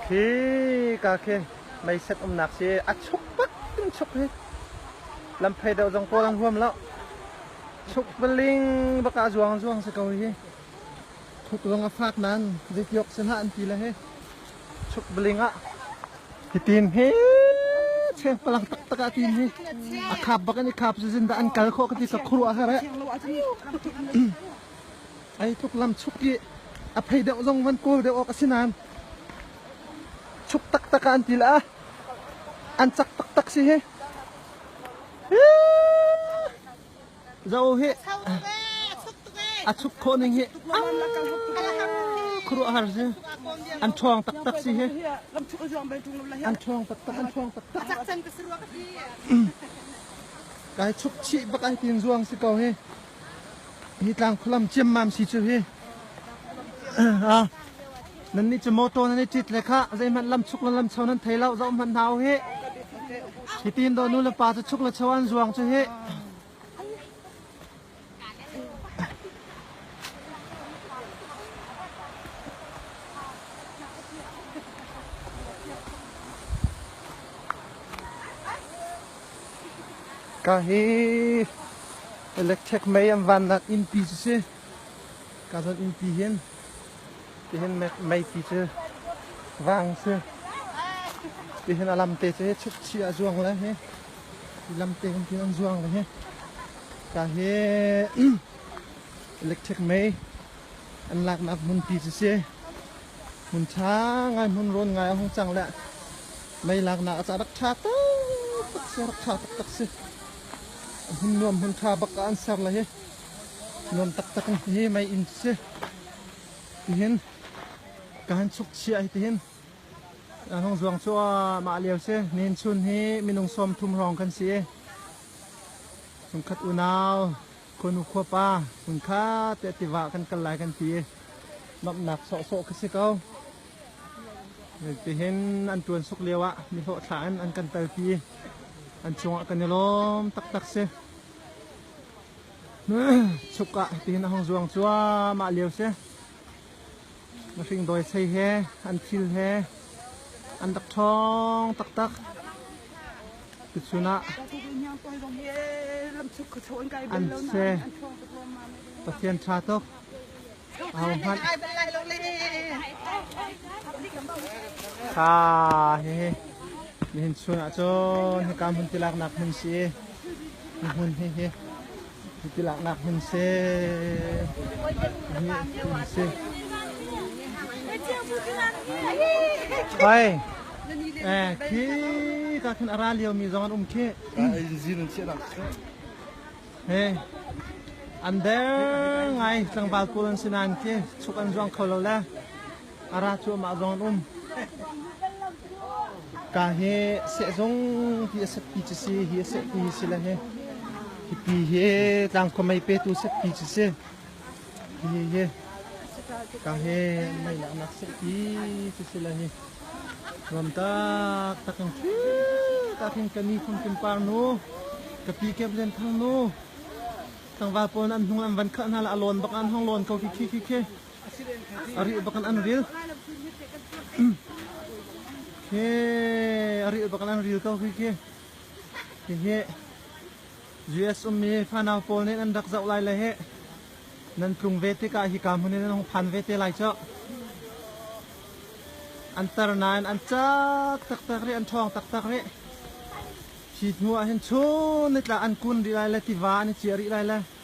Hi ka khi meiset umnak si a chuk tak in chuk hi lam phei deuh zong pawl an huam lo chuk paling baka zuang zuang si ko hi thuk lung a fak nan zeitiok sin ha an ti le hi chuk paling ah hi tin hi cheng palang tak tak a tin hi a khap bak an i khap zu zin da an kal kho ka ti ka khuru a her e Ei tluk lamchuk i a phei deuh zong van kawl deuh awk a si nain chuk taktak ah an til ah an cak taktak si hi. Zo hi a chuk khawh ning hi khuruah har si an ṭhawng taktak si hi an ṭhawng taktak an ṭhawng taktak kai chuk chih bak ai tin zuang si ko hi Hi tlang khualam ciammam si cu hi ah nan nih cu motor nan i tit le kha zeihmanh lam chuk le lam cho nan thei lo zoh hmanh hna u hi hitin do nu le pa cu chuk le cho an zuang cu hi Ka hi electric mei an vannak innpi cu si. Ka zon innpi hin tihin meipi cu vang si. Tihin a lamte cu hi chukchi a zuang le hi lamte kan tin an zuang le hi. Ka hi electric mei an laknak hmunpi cu si. hmun ṭha ngai hmun rawn ngai a hung cang le mei laknak a cah rak ṭha taktak si rak ṭha taktak si hmun nuam hmun ṭha bak an ser le hi nuam taktak in hi mei inn si tihin kan chuk chia hi tihin an hong zuang cu mah lio si nin chun hi minung sawm thum hrawng kan si i chungkhat unau Kunu khuapa hmun kha teh tiva kan kal lai kan ti. Nomhnak sawhsawh ka si ko. Tihin an tuan suk lio ah mi hlawhthla in an kan talpi. An chungah kan i lawm taktak si. Chuk ah tihin a hong zuang cuah mah lio si. Mifing dawisei he, an thil he an rak ṭhawng taktak. Tuchun ah an se Pathian ṭha tuk. Au hmanh. Kha hihi nihin chun ah cun hika hmun tilaknak hmun si i hmun hihi Cutin laknak hmun si. Si. Hoi. Eh, khi ka khin ara lio mi zong an um khi. In zin an chiah nak si. He. An der ngai tlangval kul an si nan khi chuk an zuang kho lo le. ara cu amah zong an um ka hi seh zong hi a set pi ci si hi a set pi hi si le hi hi pi hi tlangkhua mei petu set pi ci si hi hi ka hi mei nak nak set pi ci si le hi ram tak tak kan khi tak hin ka ni khun kim par nu ka pi kem len thang nu tangva pon an hnung an van khah hna la alon bak an hong lon ko khi khi khi khi Ari bakan an ril. He ari bakan an ril ko khi ki. Hihi US ummi fanau pawl nih an rak zoh lai le he nan tlung ve tikah hi ka hmun in an phan ve te lai cu. An tar nain an cak taktak ri an ṭhawng taktak ri. Hi hnu ah hin chun nitla an kun rih lai le tiva an i ciah rih lai le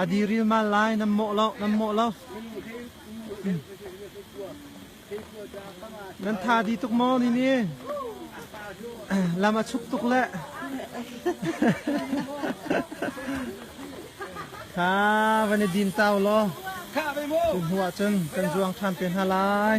A diril mal lai nan mawh lo nan mawh lo nan tha di tuk maw ni ni lam a chuk tuk le kha van i din tau law tu hnu ah cun kan zuang than te hna lai